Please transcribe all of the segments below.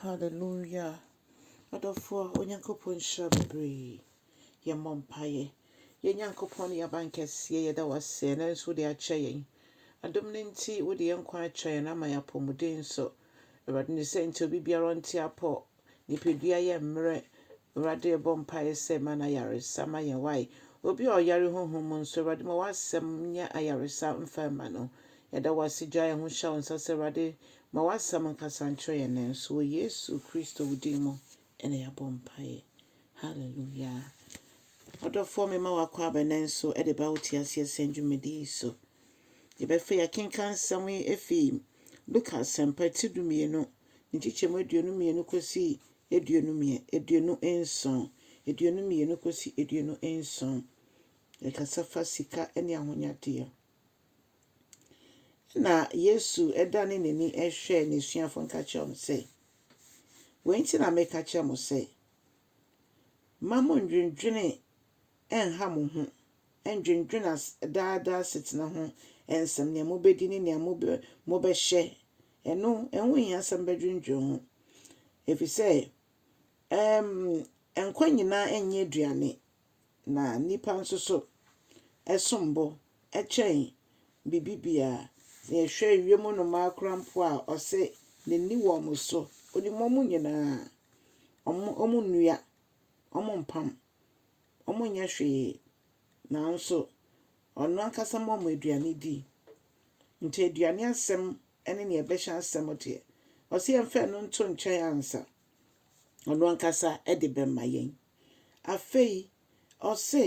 Hallelujah! Adɔfoɔ, Onyankopɔn nhyira bebree. Yɛmmɔ mpaeɛ. Yɛn Nyankopɔn ne yɛn abankɛseɛ, yɛda wo ase ɛnnɛ nso wode akyɛ yɛn. Adom no nti, wode yɛn nkwa akyɛ yɛn ama yɛn apɔmuden nso. Awurade, ne sɛ nti obi biara ɔnte apɔ, nipadua yɛ mmerɛ. Awurade, yɛbɔ mpaeɛ sɛ ma no ayaresa ma yɛn wae. Obi a ɔyare honhom mu nso, Awurade, ma w'asɛm nyɛ ayaresa mfa mma no. Yɛda wo ase gyae yɛn ho hyɛ wo nsa sɛ Awurade, Ma w'asɛm nkasa nkyerɛ yɛn nnɛ nso, wɔ Yesu Kristo wo din mu na yɛabɔ mpaeɛ. Hallelujah. Ɔdɔfoɔ mema w'akwaaba nnɛ nso de ba wo te aseɛ sɛn dwumadi yi so. Yɛbɛfɛ yɛkenka nsɛm yi efi Luka asɛmpa ti dumienu, ne nkyekyɛmu aduonu mmienu kɔsi aduonu mmiɛ, aduonu nson, aduonu mmienu kɔsi aduonu nson. Yɛkasa fa sika ne ahonyadeɛ. Ɛnna Yesu danee n'ani hwɛɛ n'asuafo no ka kyerɛɛ wɔn sɛ, Wei nti na meka kyerɛ mo sɛ, mma monndwendwene nnha mo ho, nndwendwene as daa daa asetena ho nsɛm, nea mobɛdi ne nea mobɛ mobɛhyɛ. Ɛno, ɛho nhia sɛ mobɛdwendwene ho, ɛfiri sɛ ɛm, nkwa nyinaa nyɛ aduane, na nnipa nso so som bo kyɛn biribi biara. Sɛ yɛhwɛ wiem nnomaa koraa mpo a, ɔse n'ani wɔ wɔn so. Onim wɔn nyinaa. Wɔn, wɔnnua, wɔmpam, wɔnyɛ hwee. Nanso ɔno ankasa ma wɔn aduane di. Nti aduane asɛm ne nea ɛbɛhyɛ asɛm deɛ, ɔse yɛmfa ɛno nto nkyɛn ansa. ɔno ankasa de bɛma yɛn. Afei ɔse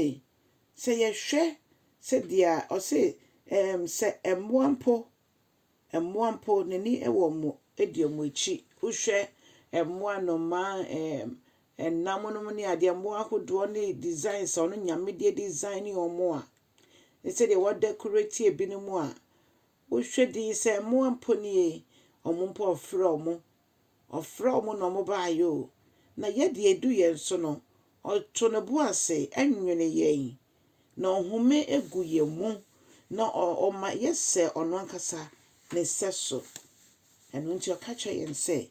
sɛ yɛhwɛ sɛdeɛ ɔse ɛɛm sɛ mmoa mpo, mmoa mpo n'ani wɔ wɔn edi wɔn akyi. Wohwɛ mmoa, nnomaa, ɛɛm ɛnam nom ne adeɛ, mmoa ahodoɔ ne designs a ɔno Nyame de design wɔn a, ne sɛdeɛ wa decorate ebinom a, wohwɛ din sɛ mmoa mpo nie, wɔn mpo ɔfrɛ wɔn Ɔfrɛ wɔn na wɔbaeɛ o, na yɛdeɛ ɛdu yɛn so no, Ɔto Ne bo ase nwene yɛn, na Ɔhome gu yɛn mu, na Ɔma yɛsɛ Ɔno ankasa Ne sɛso. Ɛno nti Ɔka kyerɛ yɛn sɛ,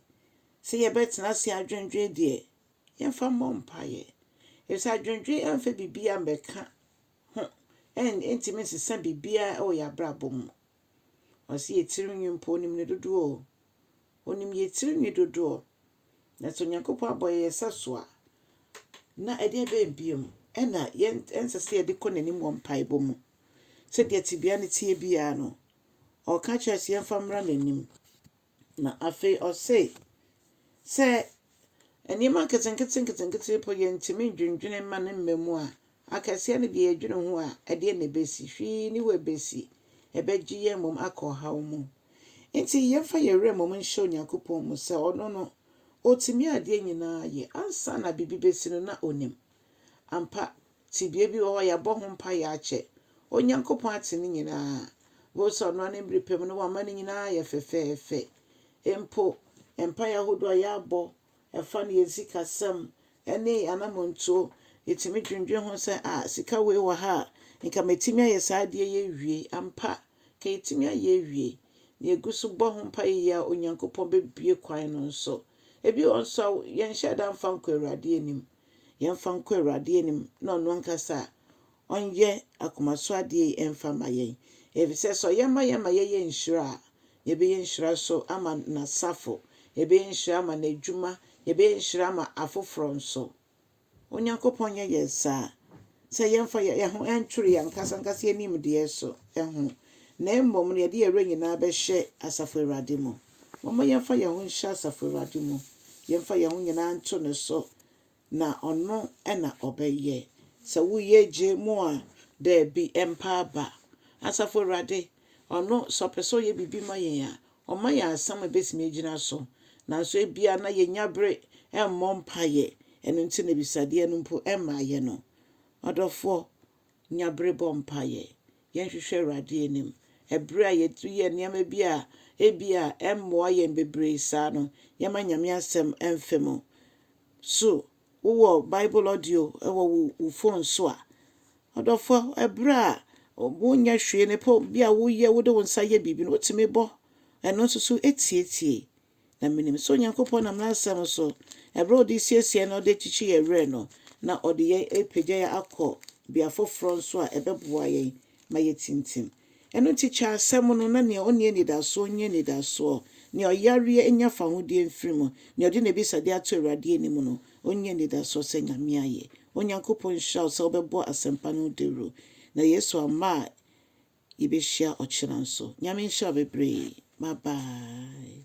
sɛ yɛbɛtena ase adwendwen deɛ, yɛmfa mmɔ mpaeɛ. Efisɛ adwendwen amfa biribiara ammɛka ho, ɛntumi nsesa biribiara wɔ yɛn abrabɔ mu. Ɔse yɛ tiri nwi mpo onim ne dodoɔ o. Onim yɛ tiri nwi dodoɔ. Na sɛ Onyankopɔn abɔ yɛ yɛ sɛ so a, na ɛdeɛ bɛn biom ɛna yɛn ɛnsɛ sɛ yɛde kɔ n'anim wɔ mpaebɔ mu. Sɛdeɛ tebea no teɛ biara no, ɔka kyerɛ sɛ yɛmfa mmra n'anim. Na afei ɔse sɛ nneɛma nketenkete-nketenkete mpo yɛntumi ndwendwene mma no mma mu a, akɛseɛ no deɛ yɛdwene ho a, ɛdeɛ na ɛbɛsi? Hwee nni hɔ ɛbɛsi. Ɛbɛgye yɛn mmom akɔ ɔhaw mu. Nti yɛmfa yɛn werɛ mmom nhyɛ Onyankopɔn mu sɛ Ɔno no, Ɔtumi adeɛ nyinaa yɛ. Ansa na biribi bɛsi no, na Ɔnim. Ampa, tebea bi wɔ hɔ a yɛabɔ ho mpaeɛ akyɛ. Onyankopɔn ate ne nyinaa. Bohu sɛ ɔno ara ne mmere pɛ mu no wama ne nyinaa ayɛ fɛfɛɛfɛ. Mpo mpaeɛ ahodoɔ a yɛabɔ, ɛfa no yɛn sikasɛm ne yɛn anammɔntuo, yɛtumi dwendwene ho sɛ, ah, sika wei wɔ ha a, nka mɛtumi ayɛ saa adeɛ yi awie. Ampa, nka yɛtumi ayɛ awie. Na yɛgu so bɔ ho mpaeɛ yie a, Onyankopɔn bɛbue kwan no nso. Ebi wɔ hɔ nso a, yɛnhyɛɛ da mfa nkɔɔ Awurade anim. yɛmfa nkɔ Awurade anim na ɔno ankasa ɔnyɛ akoma so adeɛ yi ɛmfa ma yɛn. Efisɛ sɛ ɔyɛ ma yɛn ma yɛyɛ nhyira a, yɛbɛyɛ nhyira so ama n'asafo, yɛbɛyɛ nhyira ama n'adwuma, yɛbɛyɛ nhyira ama afoforɔ nso. Onyankopɔn nyɛ yɛn saa sɛ yɛmfa yɛn ho ntwere yɛn ankasa ankasa yɛn nimdeɛ so ho, na mmom no yɛde yɛn werɛ nyinaa bɛhyɛ asafo Awurade mu. Momma yɛmfa yɛn ho nhyɛ asafo Awurade mu, yɛmfa yɛn ho nyinaa nto ne so, na ɔno na ɔbɛyɛ. Sɛ woyɛ gye mu a, daabi, ɛmpa aba. Asafo Awurade, ɔno, sɛ ɔpɛ sɛ ɔyɛ biribi ma yɛn a, ɔma yɛn asɛm a ebetumi agyina so. Nanso ebia na yɛnnya bere mmɔ mpaeɛ, ɛno nti na abisadeɛ no mpo mmaeɛ no. Ɔdɔfoɔ, Nya bere bɔ mpaeɛ. Yɛnhwehwɛ Awurade anim. Ɛberɛ a yɛyɛ nneɛma bi a ebia ɛremmoa yɛn bebree saa no, yɛmma Nyame Asɛm mfa mu. So wowɔ Bible audio wɔ wo fon so a? Ɔdɔfo, ɛberɛ a wonyɛ hwee no, pɛ bi a woyɛ, wode wo nsa yɛ biribi no, wotumi bɔ ɛno nso so tiatia. Na minim sɛ Onyankopɔn nam n'Asɛm so, bere a ɔde resiesie na ɔde rekyekye yɛn werɛ no, na ɔde yɛn repagya yɛn akɔ bea foforo nso a ɛbɛboa yɛn ma yɛatintim. Ɛno nti, kyɛ asɛm no, na nea onni anidasoɔ nya anidasoɔ, nea ɔyareɛ nya fahodie mfiri mu, nea ɔde n'abisadeɛ ato Awurade anim no, ɔnya anidasoɔ sɛ Nyame ayɛ. Onyankopɔn nhyira wo sɛ wobɛbɔ asɛmpa no ho dawuro. Na Yesu amma a Yɛbɛhyia ɔkyena nso. Nyame nhyira wo bebree. Bye bye.